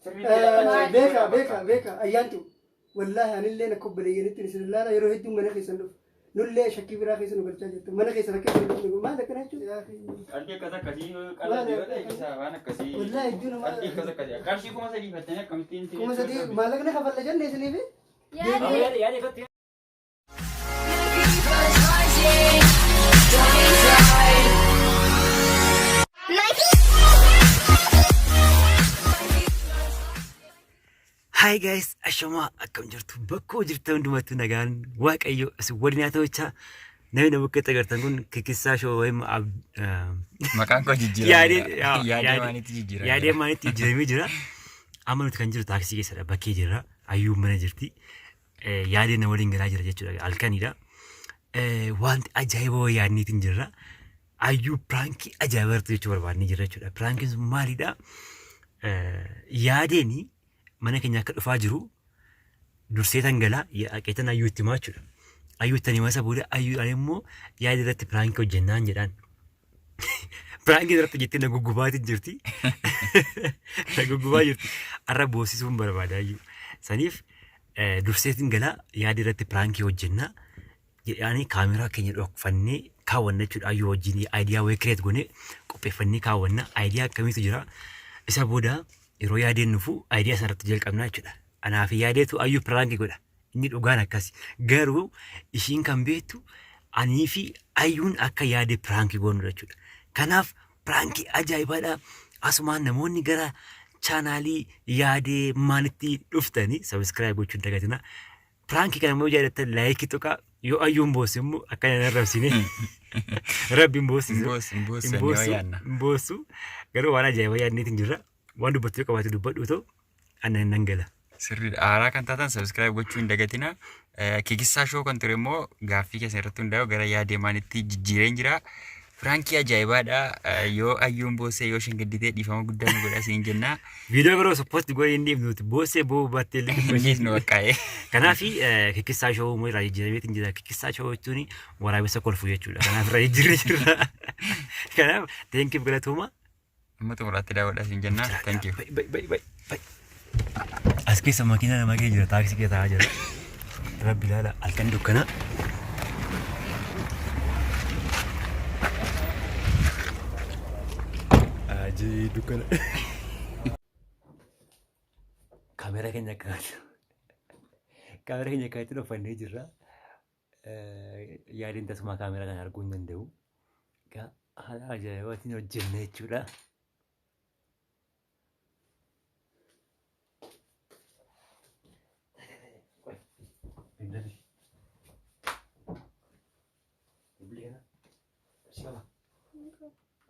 Beeka beeka beeka ayyaantu wallaahi anillee akka obboleeyyanitti isin ilaala yeroo hedduu mana keessan dhufu nullee shakkii biraa keessa nu galchaa jirtu mana keessa rakkoo hin dhufne maal akkana jechuun Qalbii akkas akkasii qalbii yoo ta'e isaa waan akkasii. Wallaahi iddoo namaa- Qalbii akkas akkasii. Qarshii kuma sadii fattanii akkamittiin. kuma sadii maallaqni kafalla jenne isiniif Yaada- Yaada ifatti Hi guys, ashamaa akkam jirtu bakkoo jirtan hundumattuu nagaan waaqayyo isin waliin haa ta'uchaa namni na bakka itti agartan kun kikissaa shoo wayim Maqaan koo jijjiirame. Yaadee- yaa- Yaadee yaadee- maanitti jijjiirame. yaadee maalitti jijjiiramee jira. Amma nuti kan jiru taaksii keessadha bakkee jirra ayyuun mana jirti. Eh, yaadee na waliin galaa jira jechuudha halkanidha. Eh, wanti ajaa'iba wayii yaadniitiin jirra. Ayyuu piraankii ajaa'iba irratti jechuu barbaadnee jirra jechuudha. Piraankiin sun maalidha? Eh, yaadeeni mana keenya akka dhufaa jiru dursee tan galaa haqeetan ayyuu itti himaa jechuudha. Ayyuu itti himasa booda ayyuudhaan immoo yaada irratti piraankii hojjennaan jedhaan. Piraankiin irratti jettee na guggubaati jirti. Na guggubaa jirti. Arra boossisuun barbaada iyyuu. Saniif eh, durseetiin galaa yaada irratti piraankii hojjennaa jedhaanii kaameraa keenya dhokfannee kaawwanna jechuudha. Ayyuu wajjin aayidiyaa wayii kireet goonee qopheeffannee kaawwanna. Aayidiyaa akkamiitu jira? Isa booda yeroo yaadeen nufu aayidiyaa sanarratti jalqabnaa jechuudha. Anaa fi yaadeetu ayyuu piraankii godha. Inni dhugaan akkasi. Garuu ishiin kan beektu anii fi ayyuun akka yaade piraanki goonudha jechuudha. Kanaaf piraanki ajaa'ibaadha. Asumaan namoonni gara chaanaalii yaadee maalitti dhuftanii sabiskiraayib gochuu hin dagatina. Piraanki kana immoo jaallattan laayikii tuqaa yoo ayyuun boosse immoo akka hin arrabsine rabbi hin boossisu. Hin boossu, hin boossu, Hin boossu, yoo yaadna. hin boossu. Garuu waan ajaa'iba yaadneetiin jirra. Waan dubbattu yoo qabaate dubbadhu too anna hin dhangala. Sirriidha. Haaraa kan taatan subscribe gochuu hin dagatina. Eh, Kikissaa shoo kan ture immoo gaaffii keessan irratti hundaa'u gara yaa deemaanitti jijjiireen jira. Firaankii ajaa'ibaadha. Eh, Yoo ayyuun boossee yoo isheen gadditee dhiifama guddaa nu godha siin jenna. Viidiyoo biroo supposti goone hin dhiifnu nuti boossee boo baattee illee Hin dhiifnu baqqaa'ee. Kanaaf kikkissaa shoo immoo irraa jijjiiramee hin jira. Kikkissaa shoo jechuun waraabessa kolfuu jechuudha. Kanaaf irraa jijjiirree jirra. Kanaaf teenkiif galatooma. Amma xumuraatti daawwadhaa siin jenna. Thank you. Bai, bai, bai, bai, bai. As keessa makiina nama kee jira, taaksii kee taa'aa jira. Rabbi ilaala, halkan dukkanaa. Ajii dukkana. Kaamera keenya akka kaamera keenya akka itti dhofannee jirra. yaadin tasumaa kaameraa kan arguu hin danda'u. Egaa haala ajaa'ibaatiin hojjenne jechuudha.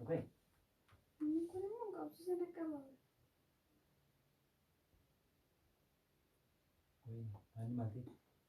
Okay. Ani mati.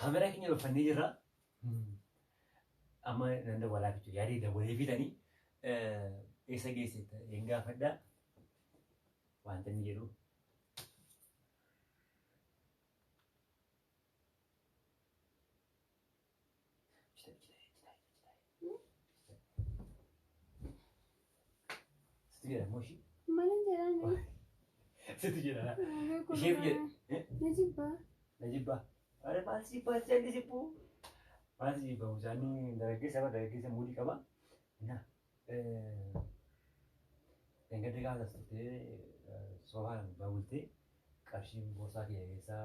Kaameraa keenya baffannee jirra. Amma nan dawwalaa jechuudha. Yaadee dawwalee fidanii eessa geesse hin gaafadha. Wanta inni jedhu. Sitti jedha immoo ishii. Maalin jedhaani? Sitti jedha. Ishee jedha. Ni jibbaa. Na jibbaa. Maal maal si jibbaa si jalli jibbuu. Maal si jibbaa mucaanii dargaggeessa bara dargaggeessa muudii qaba. Na. Engadde gaafa as turtee soofaan baabultee qarshiin boorsaa kiyya keessaa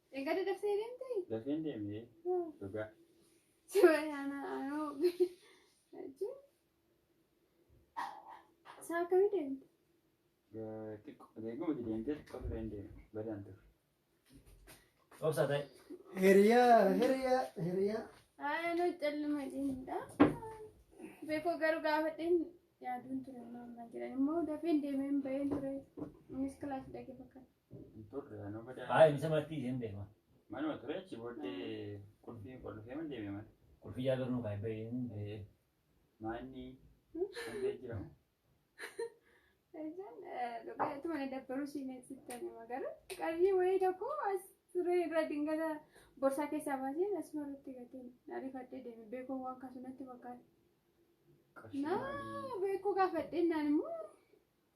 Eegale daftee deemtee? Dafeen deemee Yoo. dhugaa. Sibayana anoo jechuun isaa akkamii deemte? Eh, Xiqqoo eeguma itti deemtee xiqqoo tureen deeme. Badaan ture. Obsa ta'e. Hiriyaa, hiriyaa, hiriyaa. Haa anoo calluma deemudha. Beekoo garuu gaafadheen yaaduun ture maammaa jedhan immoo dafeen deemeen baheen ture. Innis kilaas dhage fakkaata. Hin turre anoo badaa. Haa inni samatti isheen deema. Manuma ture achi booddee qulfii qulfee man deeme mana. Qulfii yaa garnuu kaa hin Ee, Maanni hundee jira. Ejan dhugaa itti mana dabbaruu siineen sittan hima garuu qarshii wayii tokko as turee irra dingata borsaa keessaa baaseen asuma irratti gateen ariifadhee deeme beekoo waan kaasu natti fakkaata. Qarshii maalii? Naa beekoo gaafadheen naan immoo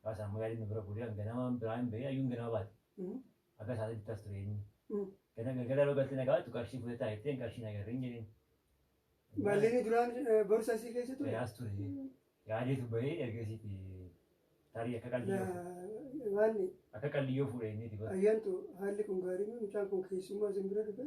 Abbaa isaa ammoo yaadni bira guuree kan ganamaan biraa hin bahee ayyuun ganama baate. Abbaa isaa bitti as ture inni. Gana galgala yeroo galtee nagaa baattu qarshii fudhataa jetteen qarshii hin agarre hin jedheen. Mallinni duraan borsa isii keessa ture. Yaas ture. Yaadeetu bahee ergasiiti tarii akka qalliyyoo fuudhe. Waan akka qalliyyoo fuudhe inni itti bara. ayyaantu haalli kun gaarii miti mucaan kun keessummaa isin bira dhufe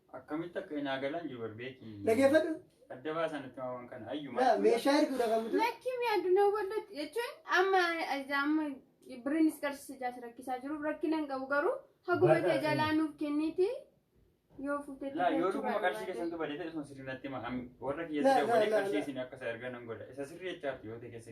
Akkamitti akka hin aagalan jibar beeki. Dhageeffadhu. Adda baasan itti waan kana ayyuma. Yaa, Meeshaa erguudha kan mutu. Lakki mi addunyaa waldatti jechuun amma amma birriinis qarshii jaas rakkisaa jiru rakkina hin qabu garuu haguma Barra- ta'e jalaa nuuf kenniiti yoo fuutetti Laa yoo dhuguma qarshii keessantu badate osoo sirrii natti hima. Am- Warra Laa, kiyyatti laa, dabalee laa, qarshii laa. isin akka isa ergan nan godha. Isa sirrii jechaatti yoo ta'e keessa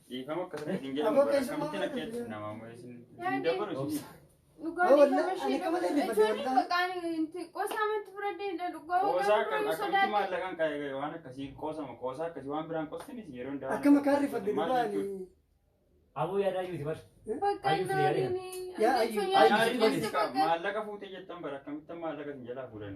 Dhiifama akka sirrii hin jedhamu bara kamittiin akka jechuun namaa moo isin hin dabaru isin. Qoosaa kan akkamitti maallaqaan kaa'ee waan akkasii qoosama qoosaa akkasii waan biraan qostinis yeroo hundaa. Akka makaa rifadde dhugaani. Aboo yaadaa yuuti bar. Maallaqa fuutee jettan bara akkamittan maallaqa isin jalaa fuudhan.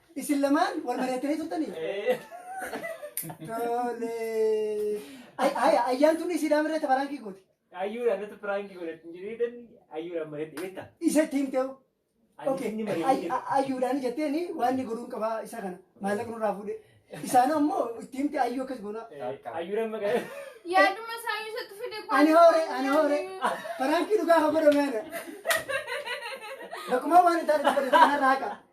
Isin lamaan wal mari'attanii turtanii? Tole. Ay- Haya ayyaan tun isiidhaan irratti baraankii gooti. Ayyuudhaan irratti piraanki godhatti hin jireetan ayyuudhaan mari'atti beekta. Isa ittiin ta'u. Okay. Inni Ay- mari'atti ay- Ayyuudhaan jetteen waan inni godhuun qabaa isa kana maallaqa nurraa fuudhe. Isaan ammoo ittiin ta'e ayyuu akkas goonaa. ayyuudhaan maqaa Yaaduma isaa yoo isatti fide Ani hoore ani hoore baraankii dhugaa haa godhame ana. Bakkuma waan hin taane dubbatu kanarraa haqa.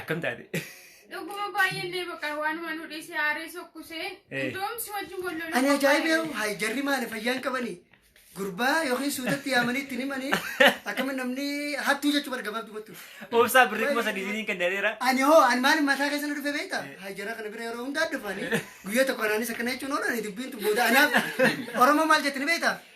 Akkam taate? Dhuguma baay'ee illee bakka waanuma nu dhiisee aaree sokkusee Eh. iddoon si wajjin wal loluu Ani ajaa'ibee hayi jarri maali fayyaan qabani gurbaa yookiin suudatti yaamanii ittiin himanii akkamitti namni hattuu jechuu barga baabdu gochuu. Obsaa birrii kuma sadii isiniin kenneera. Ani hoo ani maali mataa keessa na dhufe beekta hayi jarra kana bira yeroo hundaa dhufanii guyyaa tokko anaanis akkana jechuun oolan dubbiin tun booda anaaf Oromoo maal jettani beekta